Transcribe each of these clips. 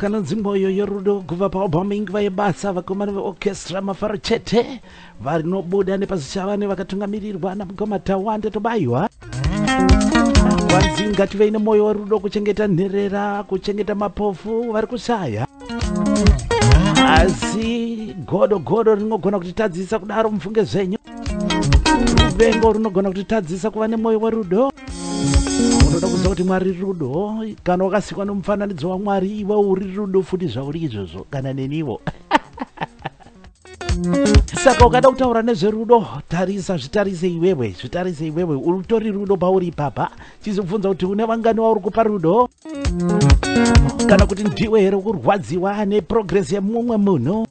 kanonzi mwoyo yorudo kubva paobhoming vaibasa vakomana veorchestra mafaro chete Varinobuda nepaZichavane vakatungamirirwa naMukoma Tawanda Tobaiwa. Kwanzi ngativei nemwoyo werudo kuchengeta nherera, kuchengeta mapofu vari kushaya. Asi godo godo rinogona kutitadzisa kudaro mufunge zvenyu. Ruvengo runogona kutitadzisa kuva nemwoyo werudo. Unoda kuziva kuti Mwari rudo, kana wakasikwa nomufananidzo waMwari iwe uri rudo futi zvauri izvozvo kana neniwo. saka ukada kutaura nezverudo tarisa zvitarise iwewe zvitarise iwewe utori rudo pauri ipapa chizobvunza kuti une vangani wauri kupa rudo kana kuti ndiwe here ukurwadziwa neprogress yemumwe munhu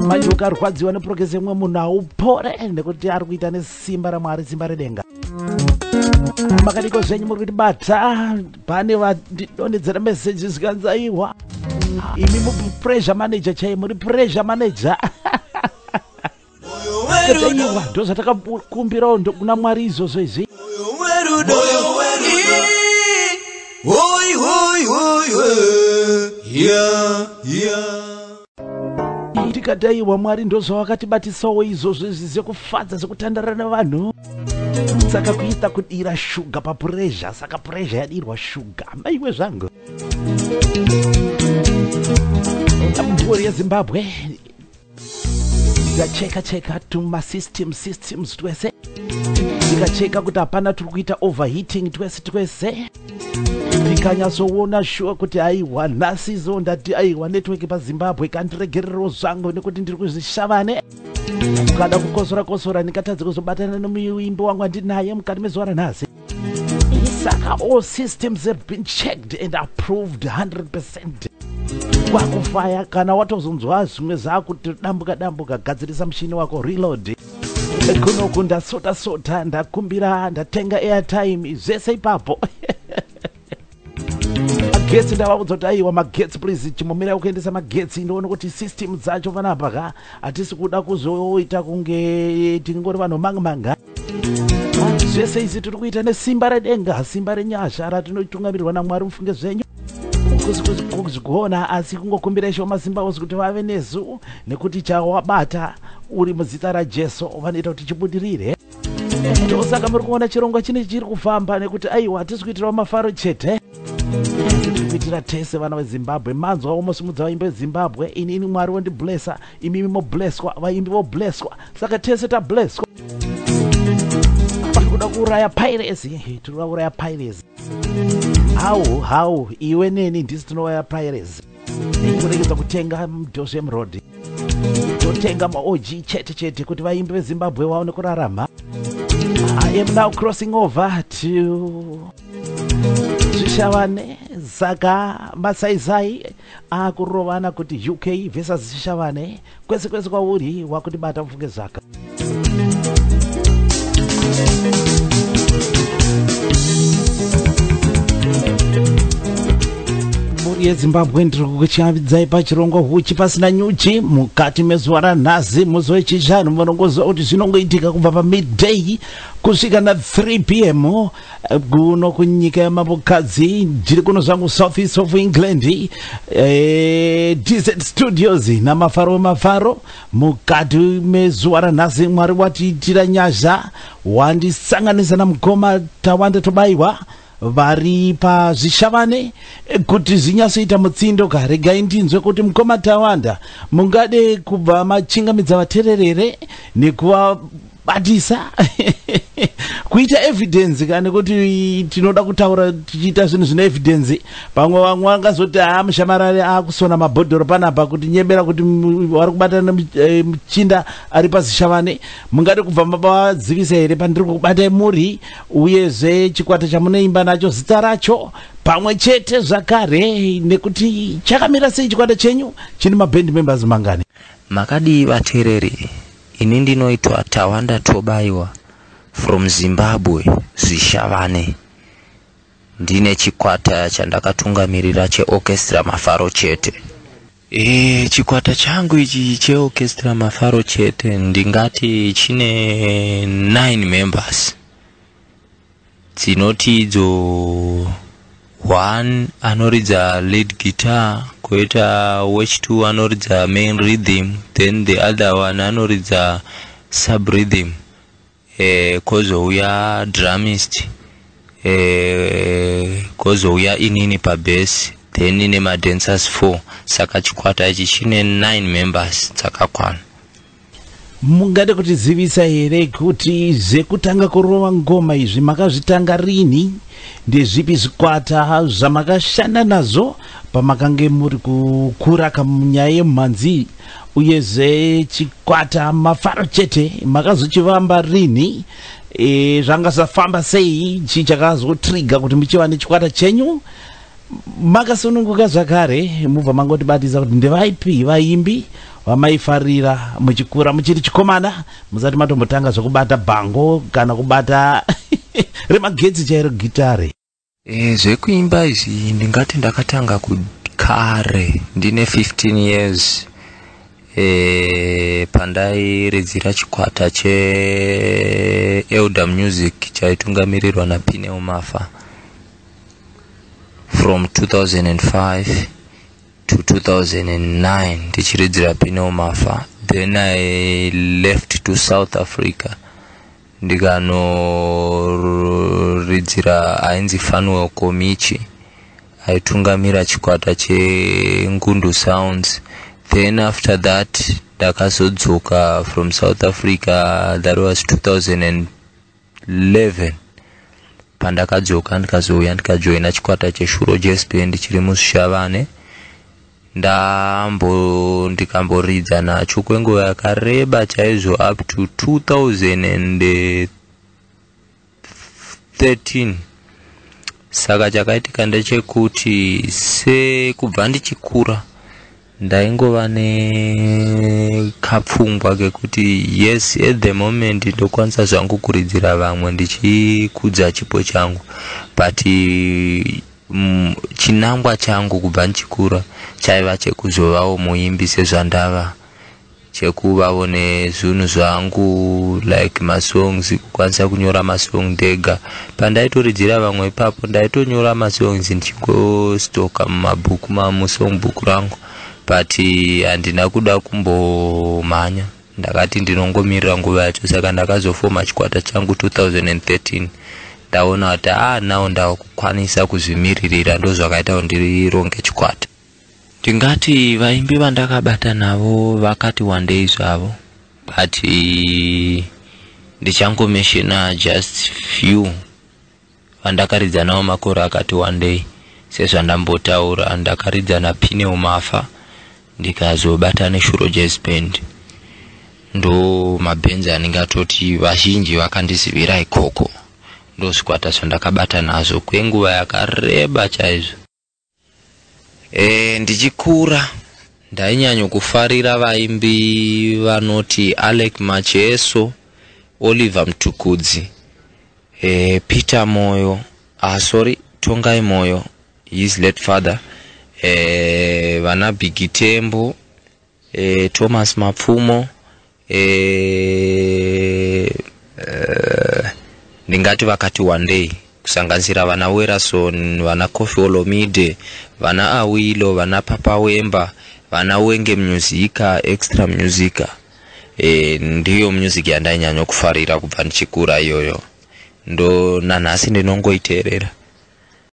manje ukarwadziwa neprogress yemumwe munhu haupore nekuti ari kuita nesimba ramwari simba redenga makadiko zvenyu muri kuti bata pane vandidonhedzera message zvikanzi aiwa imi muri pressure manager chaiye muri pressure manager aiwa ndo zvatakakumbirawo ndokuna mwari izvozvo izvi Hoi, hoi, hoi, hoi, yeah, yeah. tikadai wamwari ndozvawakatibatisawo izvozvo izvi zvekufadza zvekutandara nevanhu saka kuita kudira shuga papurezha saka purezha yadirwa shuga maiwe zvangu mhuri yezimbabwe tikacheka cheka tumasystem systems twese tikacheka kuti hapana turi kuita overheating twese twese ndikanyatsoona shuwa kuti aiwa nhasi izo ndati aiwa network pazimbabwe kandiregererewo zvangu nekuti ndiri kuzvishavane ukada kukosora kosora ndingatadze kuzobatana nemuimbi wangu andinaye mukati mezuva ranhasi saka all systems have been checked and approved 100 percent kwakufaya kana watozonzwa zvimwe zvakuti dambuka dambuka gadzirisa mushini wako reload kunoku ndasota sota ndakumbira ndatenga airtime zvese ipapo magetsi ndavaudza kuti aiwa magetsi please chimomira kuendesa magetsi ndoona kuti system dzacho panapa ka hatisi kuda kuzoita kunge tingori vanhu mang manga zvese izi tiri kuita nesimba redenga simba renyasha ratinotungamirirwa namwari mufunge zvenyu kuzvigona asi kungokumbira ishoma simba ozi kuti vave nezu nekuti chawabata uri muzita rajesu vanoita kuti chibudirire ndosaka muri kuona chirongwa chine chiri kufamba nekuti aiwa hatisi kuitirawo mafaro chete kuitira tese vana vezimbabwe manzwa womosimudza vaimbi vezimbabwe ini ini mwari wondiblesa imimi mobleswa vaimbi vobleswa saka tese tableswa kuda kuuraya piracy tiri kuda kuuraya piracy hau hau iwe neni ndisi tinouraya piracy kuregedza kutenga mudozem road totenga maog chete chete kuti vaimbi vezimbabwe vaone kurarama i am now crossing over to zvishavane saka masaisai akurovana kuti uk versus zvishavane Kwese kwese kwauri wakutibata mufunge zvaka. yezimbabwe ndiri kukuchavidzai pachirongwa huchi pasina nyuchi mukati mezuva ranhasi musi wechishanu munongoziva kuti zvinongoitika kubva pamidday kusvika na3 p m kuno kunyika yamambokadzi ndiri kuno zvangu south east of england e, eh, dz studios namafaro wemafaro mukati mezuva ranhasi mwari watiitira nyasha wandisanganisa namukoma tawanda tobayiwa vari pazvishavane kuti zvinyatsoita mutsindo ka regai ndinzwe kuti mukoma tawanda mungade kubva machingamidza vatererere nekuva but sa kuita evidence kani kuti tinoda kutaura tichiita zvinhu zvine evidence pamwe vamwe vangazoti haa mushamarari akusona mabhodhoro panapa kuti nyebera kuti vari kubatana eh, muchinda ari pazishavane mungade kubva mavazivisa here pandiri kubatai muri uyezve chikwata chamunoimba nacho zita racho pamwe chete zvakare nekuti chakamira sei chikwata chenyu chine maband members mangani makadii vateereri Ini ndinoitwa Tawanda Tobaiwa from Zimbabwe Zvishavane. Ndine chikwata chandakatungamirira cheOrchestra Mafaro chete. E, chikwata changu ichi cheOrchestra Mafaro chete ndingati chine 9 members. Dzinoti idzo one anoridza lead guitar koita wech two anoridza main rhythm then the other one anoridza sub rhythm eh, kozouya drumist eh, kozouya inini pabase then ine madancers four saka chikwata ichi chine nine members dzakakwana Mungade kutizivisa here kuti zvekutanga kurova ngoma izvi makazvitanga rini? Ndezvipi zvikwata zvamakashanda nazvo pamakange muri kukura kamunyaya yemumhanzi? Uyezve chikwata mafaro chete makazochivamba rini? E, zvanga zvafamba sei? Chii chakazotriga kuti muchiva nechikwata chenyu? Makasununguka zvakare mubva mangotibatidza kuti ndevaipi vaimbi vamaifarira muchikura muchiri chikomana musati matombotanga zvekubata bhango kana kubata remagetsi chairo gitare. Eh, zvekuimba izvi ndingati ndakatanga kare ndine 15 years eh, pandairidzira chikwata cheelder music chaitungamirirwa napineumafa from 2005 to 2009 ndichiridzira pino mafa then i left to south africa ndikanoridzira ainzi fanuel komichi aitungamira chikwata chengundu sounds then after that ndakazodzoka from south africa that was 2000 11 pandakadzoka ndikazouya ndikajoina chikwata cheshuro jesp ndichiri musvishavane ndambo ndikamboridza nacho kwenguva yakareba chaizvo up to 2013 saka chakaitika ndechekuti sekubva ndichikura Ndaingova ne kapfungwa kekuti yes at the moment ndokwanisa zvangu kuridzira vamwe ndichikudza chipo changu but mm, chinangwa changu kubva ndichikura chaiva chekuzovawo muimbi sezvandava chekuvavo nezvinhu zvangu like masongs kukwanisa kunyora masong ndega pandaitorijira vamwe ipapo ndaitonyora masongs ndichigostoka mumabhuku mamusong book rangu but handina kuda kumbomhanya ndakati ndinongomirira nguva yacho saka ndakazofoma chikwata changu 2013 ndaona kuti a ah, now ndava kukwanisa kuzvimiririra ndozvakaita kundironge chikwata Ndingati vaimbi vandakabata navo vakati wandei zvavo but eh, ndichangomeshena just few vandakaridza navo makore akati wandei sezvandambotaura ndakaridza napineo mafa ndikazobata neshuro jazz band ndo mabhenzi anenge atoti vazhinji vakandizivira ikoko ndozvikwata zvandakabata nazvo kwenguva yakareba chaizvo E, ndichikura ndainyanyo kufarira vaimbi vanoti Alec Macheso, Oliver Mtukudzi, e, Peter Moyo, ah, sorry, Tongai Moyo, his late father, e, vana Bigitembo, e, Thomas Mapfumo, Eh, eh, ndingati vakati wandei kusanganisira vana werason vana cofi olomide vana awilo vana papa wemba vana wenge musica extra musica e, ndiyo music yandainyanya kufarira kubva ndichikura iyoyo ndo nanhasi ndinongoiteerera